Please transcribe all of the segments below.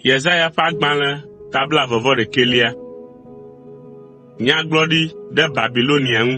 Yesaya ƒe agbalẽ ta blaeve-vɔ-ɖekɛlia. Nyagblɔɖi ɖe Babilonia ŋu.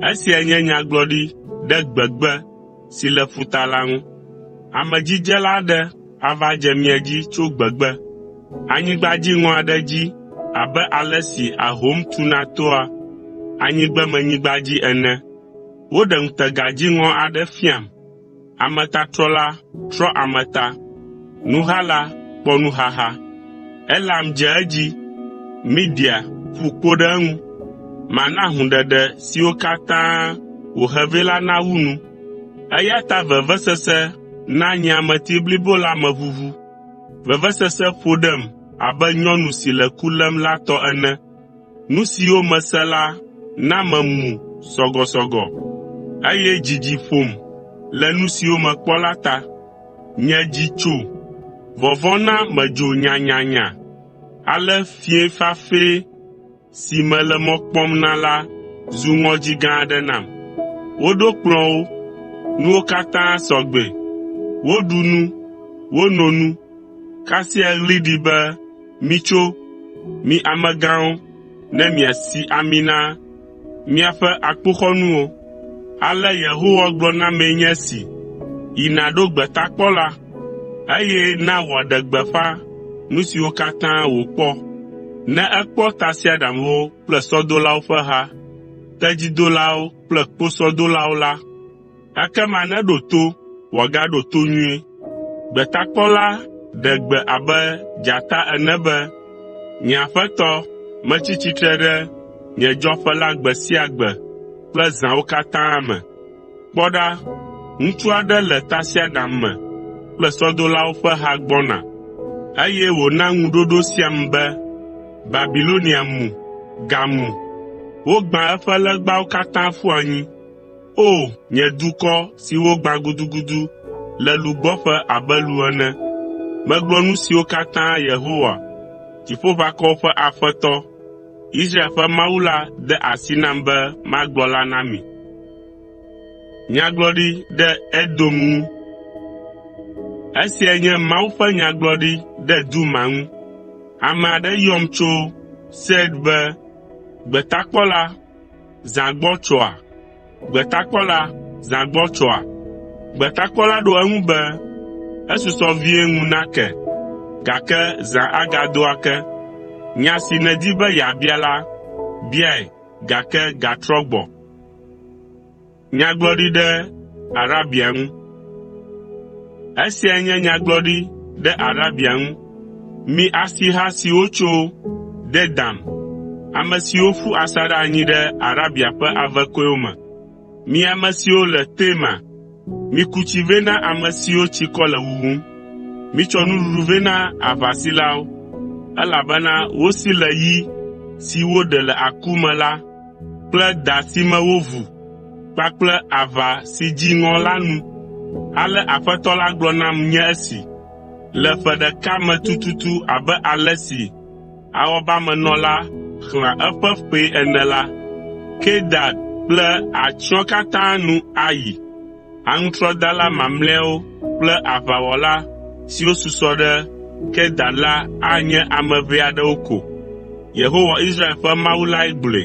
Esia nye nyagblɔɖi ɖe gbegbe si le ƒuta la ŋu. Amedzidzela aɖe ava dze mia dzi tso gbegbe, anyigba dziŋɔ aɖe dzi abe ale si ahom tuna toa anyigbemenyigba dzi ene. Woɖe ŋutega dziŋɔ aɖe fiam. Ametatrɔla trɔ ame ta, nuhala kpɔ nuhaha. Elam dze edzi, Media ƒu kpo ɖe eŋu. Mana hũɖeɖe siwo katã wòhe vɛ la nawu nu. Eya ta vevesese na nye ameti blibo la me ʋuʋu. Vevesese ƒo ɖem abe nyɔnu si le ku lém la tɔ ene. Nu siwo mese la na memu sɔgɔsɔgɔ, eye dzidzi ƒom le nu siwo mekpɔ la ta. Nye dzi tso, vɔvɔ̃ na medzo nyanyanya, ale fiẽ fafɛ si mele mɔ kpɔm na la zu ŋɔdzi gã aɖe nam. Woɖo kplɔ̃ wo, nuwo katã sɔ gbɛ, woɖu nu, wono nu, kasia ɣli ɖi be, “Mitso, mi amegãwo, ne miasi ami na míaƒe akpoxɔnuwo.” Ale Yehowa gblɔ na mee nye esi, “Yi nàɖo gbetakpɔla, eye na wòaɖe gbeƒã nu siwo katã wòkpɔ. Ne ekpɔ tasiaɖamwo kple sɔdolawo ƒe ha, tedzidolawo kple kposɔdolawo la, Ekema neɖo to wòagaɖo to nyuie. Gbetakpɔla ɖe gbe abe dzata ene be, “Nye Aƒetɔ, metsi tsitre ɖe nye dzɔƒe la gbe sia gbe kple zãwo katã me. Kpɔ ɖa, ŋutsu aɖe le tasiaɖam me kple sɔdolawo ƒe ha gbɔna, eye wòna ŋuɖoɖo siam be, ‘Babilonia mu, gamu! Wogbã eƒe legbawo katã ƒu anyi!’ ” O! Nye dukɔ si wogbã gudugudu le lugbɔƒe abe lu ene. Megblɔ nu siwo katã Yehowa, Dziƒoʋakɔwo ƒe Aƒetɔ, Israel ƒe Mawu la de asi nam be magblɔ la na mi. Esiae nye Mawu ƒe nyagblɔɖi ɖe Duma ŋu. Ame aɖe yɔm tso Seir be, “Gbetakpɔla Zã gbɔ tsɔa? Gbetakpɔla zã gbɔ tsɔa? Gbetakpɔla ɖo eŋu be, Esusɔ vie ŋu nake, gake zã agado ake. Nya si nèdi be yeabia la, biae, gake gatrɔ gbɔ. Nyagblɔɖi ɖe Arabia ŋu. Esiae nye nyagblɔɖi ɖe Arabia ŋu. Mi asiha siwo tso Dedan, ame siwo ƒu asaɖa anyi ɖe Arabia ƒe ave kɔewo me, mi ame siwo le Tema, miku tsi vɛ na ame siwo tsikɔ le wuwum. Mitsɔ nuɖuɖu vɛ na aʋasilawo, elabena wosi le yi si woɖe le aku me la. kple da si me wovu kpakple aʋa si dzi ŋɔ la nu. Ale Aƒetɔ la gblɔ nam nye esi, “Le ƒe ɖeka me tututu abe ale si awɔbamenɔla xlẽa eƒe ƒee ene la, Kedar kple atsyɔ̃ katã nu ayi. Aŋutrɔdala mamlɛawo kple aʋawɔla siwo susɔ ɖe Kedar la anye ame ʋɛ aɖewo ko.” Yehowa, Israel ƒe Mawu lae gblɔe.